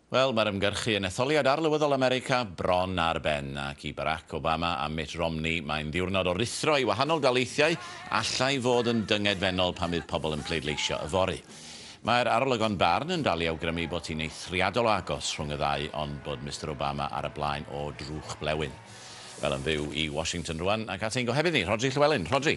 Wel, mae'r ymgyrchu yn etholiad arlywyddol America bron ar ben, ac i Barack Obama a Mitt Romney mae'n ddiwrnod o ruthro i wahanol daleithiau allai fod yn dyngedfennol pan fydd pobl yn pleidleisio yfory. Mae'r arolygon barn yn dal i awgrymu bod hi'n eithriadol o agos rhwng y ddau ond bod Mister Obama ar y blaen o drwch blewyn. Wel, yn fyw i Washington rwan ac at ein gohebydd ni, Rhodri Llywelyn. Rhodri!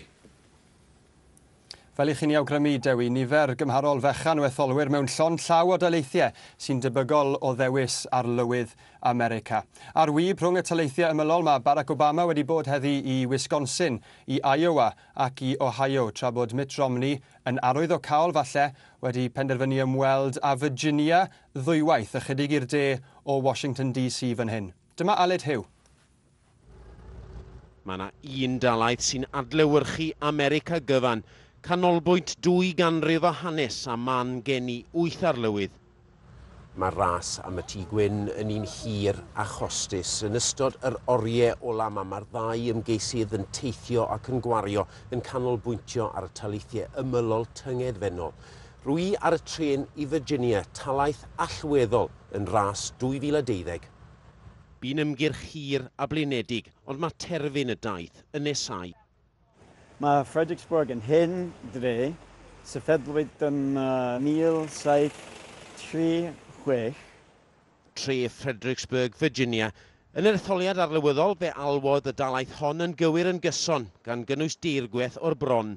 Fel i chi'n ei awgrymu, Dewi, nifer gymharol fechan o etholwyr mewn llond llaw o daleithiau sy'n debygol o ddewis Arlywydd America. Ar wib rhwng y taleithiau ymylol mae Barack Obama wedi bod heddi i Wisconsin, i Iowa ac i Ohio, tra bod Mitt Romney yn arwyddocaol falle wedi penderfynu ymweld â Virginia ddwywaith, ychydig i'r de o Washington DC fan hyn. Dyma Aled Hugh. Mae yna un dalaith sy'n adlewyrchu America gyfan, canolbwynt dwy ganrif o hanes a man geni wyth arlywydd. Mae'r ras am y Tŷ Gwyn yn un hir a chostus. Yn ystod yr orie ola' 'ma, mae'r ddau ymgeisydd yn teithio ac yn gwario, yn canolbwyntio ar y taleithie ymylol tyngedfennol. Rwy' ar y trên i Virginia, talaith allweddol yn ras 2012. Bu'n ymgyrch hir a blinedig, ond mae terfyn y daith yn nesáu. Mae Fredericksburg yn hen dre, sefydlwyd yn 1736. Tre Fredericksburg, Virginia. Yn yr etholiad arlywyddol, fe alwodd y dalaith hon yn gywir yn gyson, gan gynnwys deirgweth o'r bron.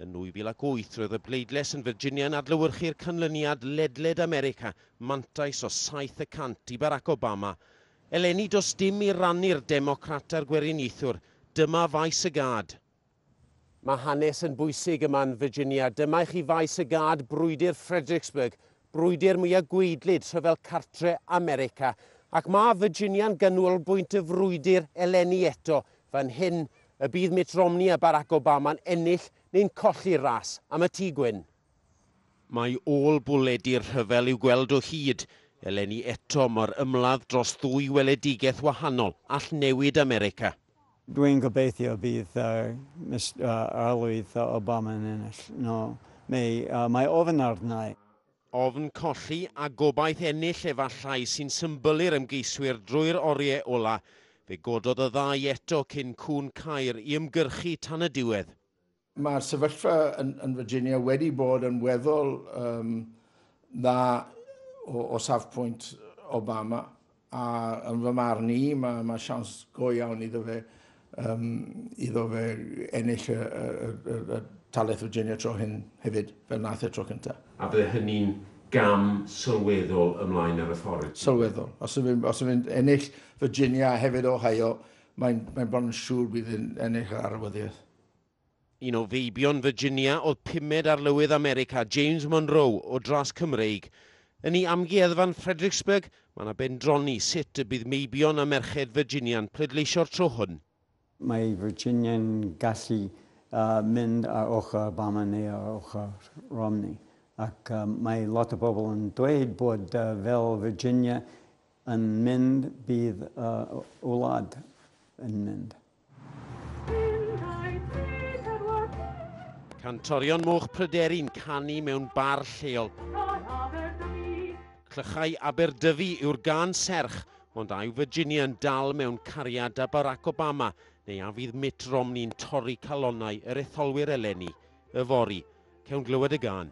Yn 2008, roedd y bleidlais yn Virginia yn adlewyrchu'r canlyniad ledled America, mantais o saith y cant i Barack Obama. Eleni does dim i rannu'r Democrat a'r Gweriniaethwr, dyma faes y gad. Mae hanes yn bwysig yma yn Virginia, dyma i chi faes y gad, brwydr Fredericksburg, brwydr mwyaf gwaedlyd Rhyfel Cartre' America, ac mae Virginia'n ganolbwynt y frwydr eleni eto fan hyn, y bydd Mitt Romney a Barack Obama'n ennill neu'n colli'r ras am y Tŷ Gwyn. Mae ôl-bwledi'r rhyfel i'w gweld o hyd, eleni eto, mor ymladd dros ddwy weledigaeth wahanol all newid America. Dwi'n gobeithio bydd arlywydd Obama'n ennill. No, May. Mae ofn arna-i. Ofn colli a gobaith ennill efallai sy'n symbol i'r ymgeiswyr drwy'r oriau ola'. Fe gododd y ddau eto cyn cŵn Caer i ymgyrchu tan y diwedd. Mae'r sefyllfa yn, yn Virginia wedi bod yn weddol um, dda o, o safpwynt Obama a yn fy marn i mae, mae siawns go iawn iddo fe, um, iddo fe ennill y, y, y, y talaith Virginia tro hyn hefyd, fel nath y tro cyntaf. A bydde hynny'n gam sylweddol ymlaen ar y ffordd? Sylweddol. Os yw'n os yw ennill Virginia a hefyd Ohio, mae'n mae bron yn siŵr bydd yn ennill yr arwyddiaeth. Un o feibion Virginia oedd pumed Arlywydd America, James Monroe, o dras Cymreig. Yn ei amgueddfa'n Fredericksburg, mae yna bendroni sut y bydd meibion a merched Virginia'n pleidleisio'r tro hwn. Mae Virginia'n gallu mynd ar ochr Obama neu ar ochr Romney, ac mae lot o bobl yn dweud bod fel Virginia yn mynd, bydd y wlad yn mynd. Cantorion Moch Pryderi'n canu mewn bar lleol. Clychau Aberdyfi yw'r gân serch, ond a yw Virginia yn dal mewn cariad â Barack Obama, neu a fydd Mitt Romney'n torri calonnau yr etholwyr eleni? Yfory, cewn glywed y gân?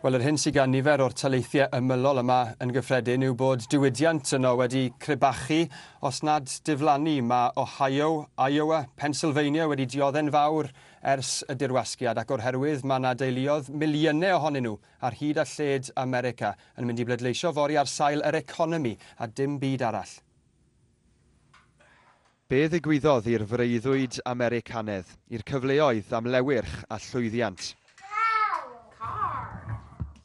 Wel, yr hyn sydd gan nifer o'r taleithiau ymylol yma yn gyffredin yw bod diwydiant yno wedi crebachu, os nad diflannu. Mae Ohio, Iowa, Pennsylvania wedi diodde'n fawr ers y dirwasgiad ac o'r herwydd mae yna deuluodd, miliynau ohonyn nhw, ar hyd a lled America, yn mynd i bleidleisio fory ar sail yr economi a dim byd arall. Be ddigwyddodd i'r freuddwyd Americanedd, i'r cyfleoedd am lewyrch a llwyddiant?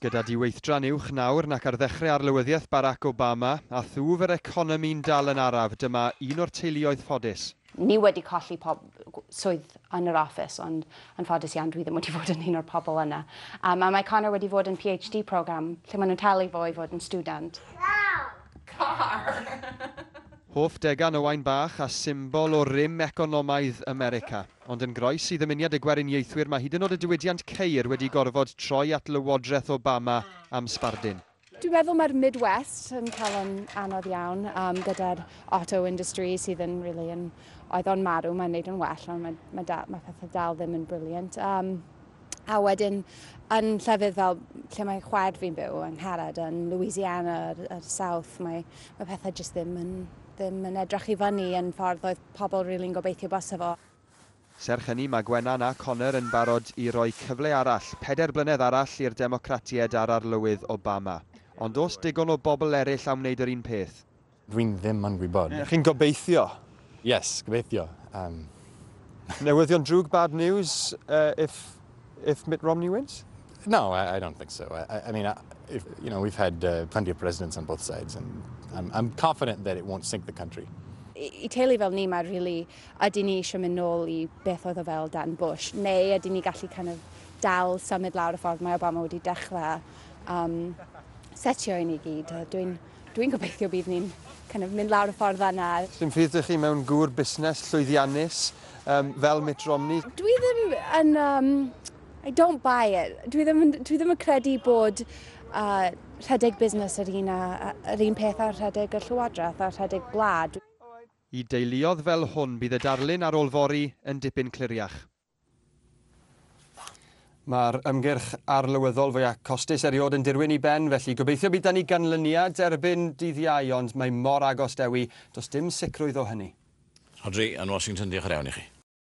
Gyda diweithdran uwch nawr nac ar ddechrau arlywyddiaeth Barack Obama, a thwf yr economi'n dal yn araf, dyma un o'r teuluoedd ffodus. Ni wedi colli pob swydd yn yr office, ond yn ffodus iawn dwi ddim wedi fod yn un o'r pobl yna. A mae Connor wedi fod yn PhD program lle maen nhw'n talu fo i fod yn stiwdant. Car! Hoff degan Owain Bach a symbol o rym economaidd America. Ond yn groes i ddymuniad y Gweriniaethwyr mae hyd yn nod y diwydiant ceir wedi gorfod troi at Lywodraeth Obama am sbardun. Dwi'n meddwl mae'r Midwest yn cael yn anodd iawn um, gyda'r auto industry sydd yn really yn... Oedd o'n marw, mae'n neud yn well, ond mae, mae, da, mae pethau dal ddim yn brilliant. Um, A wedyn yn llefydd fel lle mae chwaer fi'n byw yn Ngharad, yn Louisiana, yr, yr South, mae, mae pethau jyst ddim yn, ddim yn edrach i fyny yn ffordd oedd pobl rili'n really gobeithio basa fo. Serch hynny, mae Gwenan a Conor yn barod i roi cyfle arall, pedair blynedd arall, i'r Democratiaid a'r Arlywydd Obama. Ond oes digon o bobl eraill am wneud yr un peth? Dwi'n ddim yn gwybod. Chi'n gobeithio? Yes, gobeithio. Yym. Newyddion drwg, bad news, uh, if, if Mitt Romney wins? No, I, I don't think so. I, I mean, I, if, you know, we've had uh, plenty of presidents on both sides and I'm, I'm confident that it won't sink the country. i teulu fel ni, mae really, ydy ni eisiau mynd nôl i beth oedd o fel Dan Bush, neu ydy ni gallu kind of dal symud lawr y ffordd mae Obama wedi dechrau um, setio i ni gyd. Dwi'n Dwi'n gobeithio bydd ni'n kind of mynd lawr y ffordd yna. Sdim ffydd dych chi mewn gŵr busnes llwyddiannus um, fel Mitt Romney. Dwi ddim yn... Um, I don't buy it. Dwi ddim, dwi ddim yn credu bod uh, rhedeg busnes yr un, a, yr un peth ar rhedeg y llywodraeth a rhedeg gwlad. I deuluodd fel hwn bydd y darlun ar ôl fori yn dipyn cliriach. Mae'r ymgyrch arlywyddol fwyaf costus erioed yn dirwyn i ben, felly gobeithio bydd 'da ni ganlyniad erbyn dydd Iau, ond mae mor agos, Dewi, does dim sicrwydd o hynny. Rhodri, yn Washington, diolch yn iawn i chi.